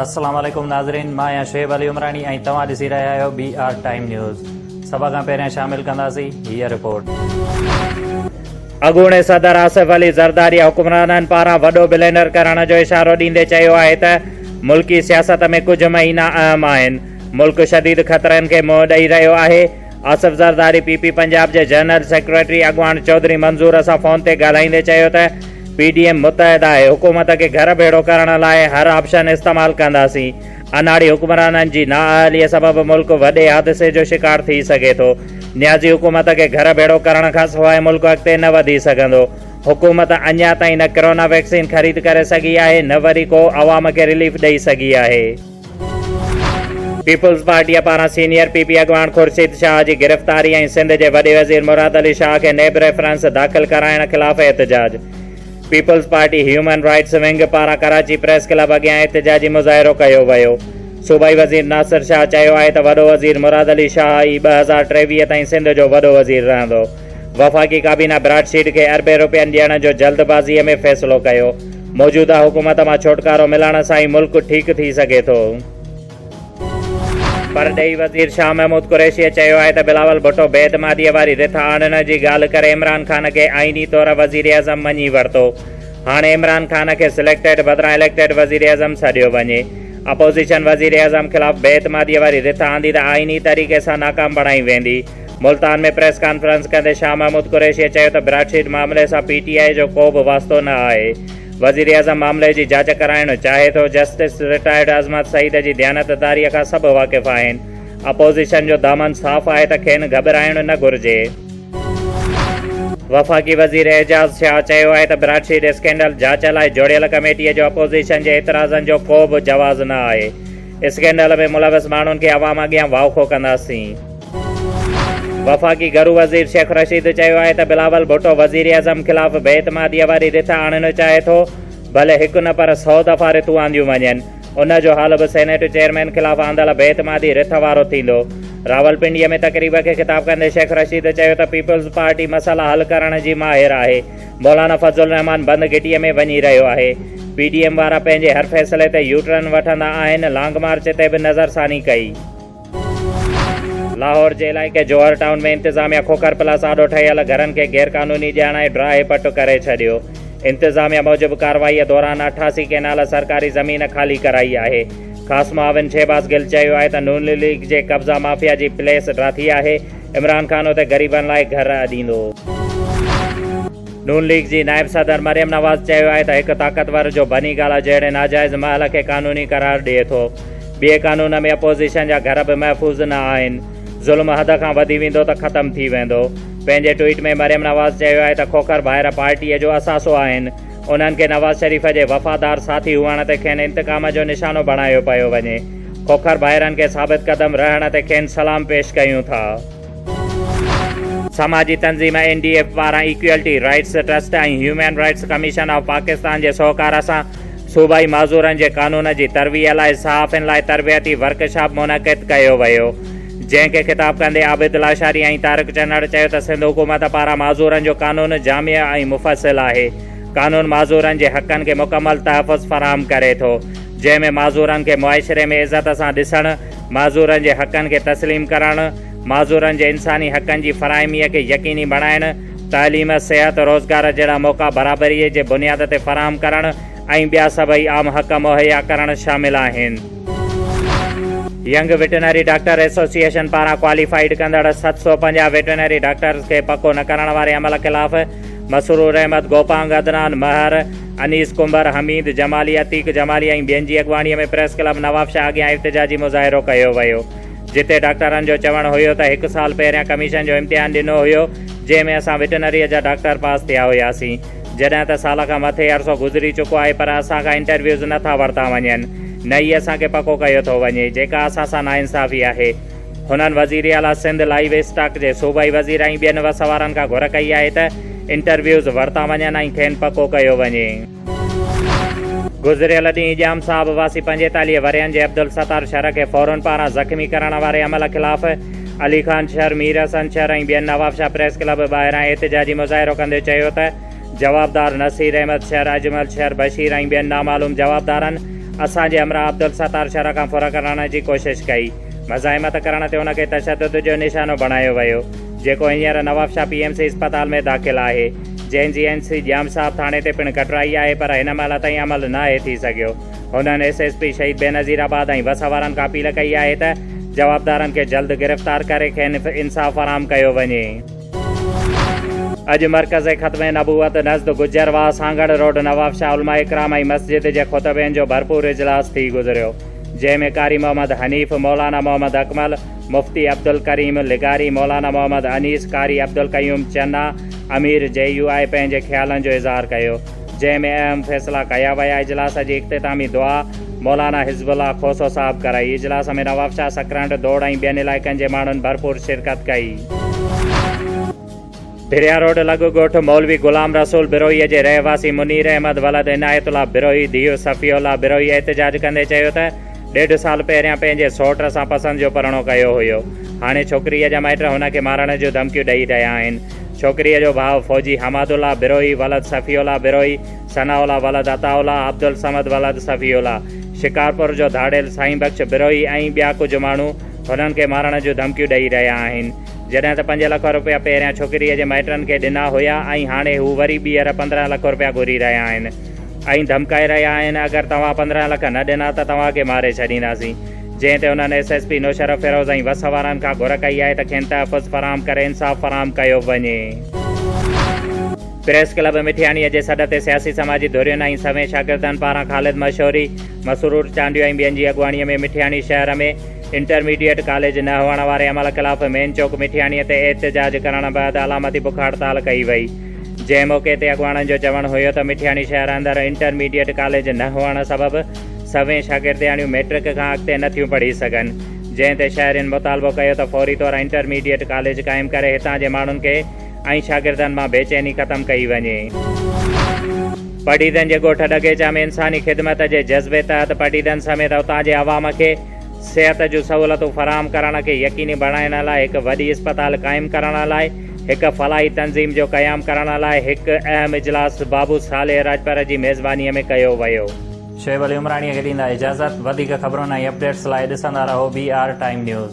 السلام عليڪم ناظرين مان آهيان شعيب علي عمراڻي ۽ توهان ڏسي رهيا آهيو بي آر ٽائيم نيوز سڀ کان پهريان شامل ڪنداسين هي رپورٽ اڳوڻي صدر آصف علي زرداري حڪمرانن پاران وڏو بلينڊر ڪرڻ جو اشارو ڏيندي چيو آهي ته ملڪي سياست ۾ ڪجهه مهينا اهم آهن ملڪ شديد خطرن کي منهن ڏئي رهيو آهي آصف زرداري پي پي پنجاب جي جنرل سيڪريٽري اڳواڻ چوڌري منظور سان فون تي ڳالهائيندي چيو ته پي ڊي ايم متحد آهي، حڪومت کي گهر ڀيڙو ڪرڻ لاء هر آپشن استعمال ڪنداسين، اناڙي حڪمرانن جي نااهلي سبب ملڪ وڏي حادثي جو شڪار ٿي سگهي ٿو، نيازي حڪومت کي گهر ڀيڙو ڪرڻ کان سواء ملڪ اڳتي نه وڌي سگهندو، حڪومت اڃا تائين نه ڪرونا ويڪسين خريد ڪري سگهي آهي نه وري ڪو عوام کي رليف ڏئي سگهي آهي. پيپلز پارٽيء پاران سينيئر پي پي اڳواڻ خورشيد شاهه جي گرفتاري ۽ سنڌ جي وڏي وزير مراد علي شاهه کي نيب ريفرنس داخل ڪرائڻ خلاف احتجاج. Peoples Party human rights wing پاران ڪراچي پريس ڪلب اڳيان احتجاجي مظاهرو ڪيو ويو. صوبائي وزير ناصر شاهه چيو آهي ته وڏو وزير مراد علي شاهه ئي ٻه هزار ٽيويهه تائين سنڌ جو وڏو وزير رهندو. وفاقي ڪابينا براڊ سيڊ کي اربين روپين ڏيڻ جو جلدبازيء ۾ فيصلو ڪيو، موجوده حڪومت مان ڇوٽڪارو ملڻ سان ئي ملڪ ٺيڪ ٿي سگهي ٿو. پرڏيهي وزير شاهه محمود قريشيء چيو آهي ته بلاول ڀٽو بي اعتماديء واري رٿ آڻڻ جي ڳالهه ڪري عمران خان کي آئيني طور وزيراعظم مڃي ورتو، هاڻي عمران خان کي سليڪٽيڊ بدران اليڪٽيڊ وزيراعظم سڏيو وڃي. اپوزيشن وزيراعظم خلاف بي اعتماديء واري رٿ آندي ته آئيني طريقي سان ناڪام بڻائي ويندي. ملتان ۾ پريس ڪانفرنس ڪندي شاهه محمود قريشيء چيو ته براڊ شيٽ معاملي سان پي ٽي آء جو ڪو به واسطو نه آهي، وزيراعظم معاملي جي جاچ ڪرائڻ چاهي ٿو، جسٽس رٽائرڊ عظمت سعيد جي ديانتداريء کان سڀ واقف آهن، اپوزيشن جو دامن صاف آهي ته کين گهٻرائڻ نه گهرجي. وفاقي وزير اعجاز شاهه چيو آهي ته براڊ شيٽ اسڪينڊل جاچ لاء جوڙيل ڪميٽيء جو اپوزيشن جي اعتراضن جو ڪو به جواز نه آهي، اسڪينڊل ۾ ملوث ماڻهن کي عوام اڳيان واکو ڪنداسين. وفاقي گهرو وزير شيخ رشيد چيو آهي ته بلاول ڀٽو وزيراعظم خلاف بي اعتماديء واري رٿ آڻڻ چاهي ٿو، ڀلي هڪ نه پر سؤ دفعا رٿون آنديون وڃن، ان جو حل به سينيٽ چيئرمين خلاف آندل بي اعتمادي رٿ وارو ٿيندو. راولپنڊيء ۾ تقريب کي خطاب ڪندي شيخ رشيد چيو ته پيپلز پارٽي مسئلا حل ڪرڻ جي ماهر آهي، مولانا فضل الرحمان بند گهٽيء ۾ وڃي رهيو آهي. پي ڊي ايم وارا پنهنجي هر فيصلي تي يو ٽرن وٺندا آهن، لانگ مارچ تي به نظر ثاني ڪئي. لاهور جي علائقي جوهر ٽائون ۾ انتظاميا کوکر پلاس آڏو ٺهيل گهرن کي غير قانوني ڄاڻائي ڊراهي پٽ ڪري ڇڏيو. انتظاميا موجب ڪارروائيء دوران اٺاسي ڪينال سرڪاري زمين خالي ڪرائي آهي. خاص معاون شهباز گل چيو آهي ته نون ليگ جي قبضا مافيا جي پليس ڊراٿي آهي، عمران خان اتي غريبن لاء گهر اڏيندو. نون ليگ جي نائب صدر مريم نواز چيو آهي ته هڪ طاقتور جو بني گالا جهڙي ناجائز محل کي قانوني قرار ڏئي ٿو. ٻئي قانون ۾ اپوزيشن جا گهر به محفوظ نه آهن. ظلم حد کان وڌي ويندو ته ختم ٿي ويندو. پنهنجي ٽوئيٽ ۾ مريم نواز چيو آهي ته کوکر ڀائر پارٽي جو اثاثو آهن. انهن کي نواز شريف جي وفادار ساٿي هئڻ تي کين انتقام جو نشانو بڻايو پيو وڃي. کوکر ڀائرن کي ثابت قدم رهڻ تي کين سلام پيش ڪيون ٿا. سماجي تنظيم اين ڊي ايف پاران equality rights trust ۽ human rights commission of Pakistan جي سهڪار سان صوبائي معذورن جي قانون جي ترويع لاء صحافين لاء تربيتي ورڪشاپ منعقد ڪيو ويو جنهن کي خطاب ڪندي عابد لاشاري ۽ طارق چنڙ چيو ته سنڌ حڪومت پاران معذورن جو قانون جامع ۽ مفصل آهي قانون معذورن جي حقن کي مڪمل تحفظ فراهم ڪري ٿو جنهن ۾ معذورن کي معاشري ۾ عزت سان ڏسڻ، معذورن جي حقن کي تسليم ڪرڻ، معذورن جي انساني حقن جي فراهمي کي يقيني بڻائڻ، تعليم، صحت، روزگار جهڙا موقعا برابري جي بنياد تي فراهم ڪرڻ ۽ ٻيا سڀئي عام حق مهيا ڪرڻ شامل آهن. ينگ وٽرنري ڊاڪٽر ايسوسيئيشن پاران ڪواليفائيڊ ڪندڙ ست سؤ پنجاهه وٽرنري ڊاڪٽرز کي پڪو نه ڪرڻ واري عمل خلاف مسرور احمد، گوپانگ عدنان، مهر، انيس ڪنڀر، حميد جمالي، عتيق جمالي ۽ ٻين جي اڳواڻي ۾ پريس ڪلب نوابشاهه اڳيان احتجاجي مظاهرو ڪيو ويو جتي ڊاڪٽرن جو چوڻ هيو ته هڪ سال پهريان ڪميشن جو امتحان ڏنو هيو جنهن ۾ اسان وٽنريء جا ڊاڪٽر پاس ٿيا هياسين جڏهن ته سال کان مٿي عرصو گذري چڪو آهي پر اسان کان انٽرويوز نه ٿا ورتا وڃن نه ئي اسان کي پڪو ڪيو ٿو وڃي جيڪا اسان سان ناانصافي آهي. هنن وزيراعليٰ سنڌ لائيو اسٽاڪ جي صوبائي وزير ۽ ٻين وسوارن کان گهر ڪئي آهي ته انٽرويوز ورتا وڃن ۽ کين پڪو ڪيو وڃي. گذريل ڏينهن ڄام صاحب واسي پنجيتاليهه ورهين جي عبدالستار شر کي ڦورن پاران زخمي ڪرڻ واري عمل خلاف علي خان شر، مير حسن شر ۽ ٻين نوابشاهه پريس ڪلب ٻاهران احتجاجي مظاهرو ڪندي چيو ته جوابدار نصير احمد شر، اجمل شر، بشير ۽ ٻين نامعلوم جوابدارن اسان جي همراهه عبدالستار شر کان ڦر ڪرڻ جي ڪوشش ڪئي. مزاحمت ڪرڻ تي ان کي تشدد جو نشانو بڻايو ويو، جيڪو هينئر نوابشاهه پي ايم سي اسپتال ۾ داخل آهي، جنهن جي اين سي ڄام صاحب ٿاڻي تي پڻ ڪٽرائي آهي پر هن مهل تائين عمل ناهي ٿي سگهيو. هنن S S P Shaheed Benazir آباد ۽ وس وارن کان اپيل ڪئي آهي ته جوابدارن کي جلد گرفتار ڪري کين انصاف فراهم ڪيو وڃي. اڄ مرڪز ختم نبوت نزد گجر واهه سانگهڙ روڊ نوابشاهه علماء ڪرام ۽ مسجد جي خطبين جو ڀرپور اجلاس ٿي گذريو. جنهن ۾ قاري محمد حنيف، مولانا محمد اڪمل، مفتي عبدالڪريم لغاري، مولانا محمد انيس، قاري عبدالقيوم چنا، امير جي يو آء پنهنجي خيالن جو اظهار ڪيو، جنهن ۾ اهم فيصلا ڪيا ويا، اجلاس جي اختتامي دعا مولانا حزب الله کوسو صاحب ڪرائي، اجلاس ۾ نوابشاهه، سڪرنڊ، دوڙ ۽ ٻين علائقن جي ماڻهن ڀرپور شرڪت ڪئي. دريا روڊ لڳ ڳوٺ مولوي غلام رسول بروهيء جي رهواسي منير احمد ولد عنايت الله بروهي ڌيء صفيه الله بروهيء احتجاج ڪندي چيو ته ڏيڍ سال پهريان پنهنجي سئوٽ سان پسند جو پرڻو ڪيو هيو هاڻي ڇوڪريء جا مائٽ هن کي مارڻ جون ڌمڪيون ڏئي رهيا آهن ڇوڪريء جو ڀاء فوجي حماد الله بروهي ولد صفيه الله بروهي ثناء الله ولد عطاء الله عبدالصمد ولد صفي الله شڪارپور جو ڌاڙيل سائين بخش بروهي ۽ ٻيا ڪجهه ماڻهو هنن کي مارڻ جون ڌمڪيون ڏئي رهيا آهن. جڏهن ته پنج لک روپيا پهريان ڇوڪريء جي مائٽن کي ڏنا هيا ۽ هاڻي هو وري ٻيهر پندرهن لک روپيا گهري رهيا آهن ۽ ڌمڪائي رهيا آهن اگر توهان پندرهن لک نه ڏنا ته توهان کي ماري ڇڏينداسين جنهن تي انهن S S P Naushahro Feroze ۽ وس وارن کان گهر ڪئي آهي ته کين تحفظ فراهم ڪري انصاف فراهم ڪيو وڃي. پريس ڪلب مٺياڻيء جي سڏ تي سياسي سماجي ڌرين ۽ سوين شاگردن پاران خالد مشوري، مسرور چانڊيو ۽ ٻين جي اڳواڻيء ۾ مٺياڻي شهر ۾، انٽرميڊيٽ ڪاليج نه هئڻ واري عمل خلاف مين چوڪ مٺياڻي تي احتجاج ڪرڻ بعد علامتي بک هڙتال ڪئي وئي جنهن موقعي تي اڳواڻن جو چوڻ هيو ته مٺياڻي شهر اندر انٽرميڊيٽ ڪاليج نه هئڻ سبب سوين شاگردياڻيون ميٽرڪ کان اڳتي نٿيون پڙهي سگهن جنهن تي شهرين مطالبو ڪيو ته فوري طور انٽرميڊيٽ ڪاليج قائم ڪري هتان جي ماڻهن کي ۽ شاگردن مان بيچيني ختم ڪئي وڃي. پڊيدن جي ڳوٺ ڏگيچا ۾ انساني خدمت جي جذبي تحت پڊيدن سميت اتان جي عوام کي صحت جون سهولتون فراهم ڪرڻ کي يقيني بڻائڻ لاء هڪ وڏي اسپتال قائم ڪرڻ لاء هڪ فلاحي تنظيم جو قيام ڪرڻ لاء هڪ اهم اجلاس بابو صالح راڄپر جي ميزبانيء ۾ ڪيو ويو. شعيب علي عمراڻيء کي ڏيندا اجازت. وڌيڪ خبرن ۽ اپڊيٽس لاء ڏسندا رهو بي آر ٽائيم نيوز.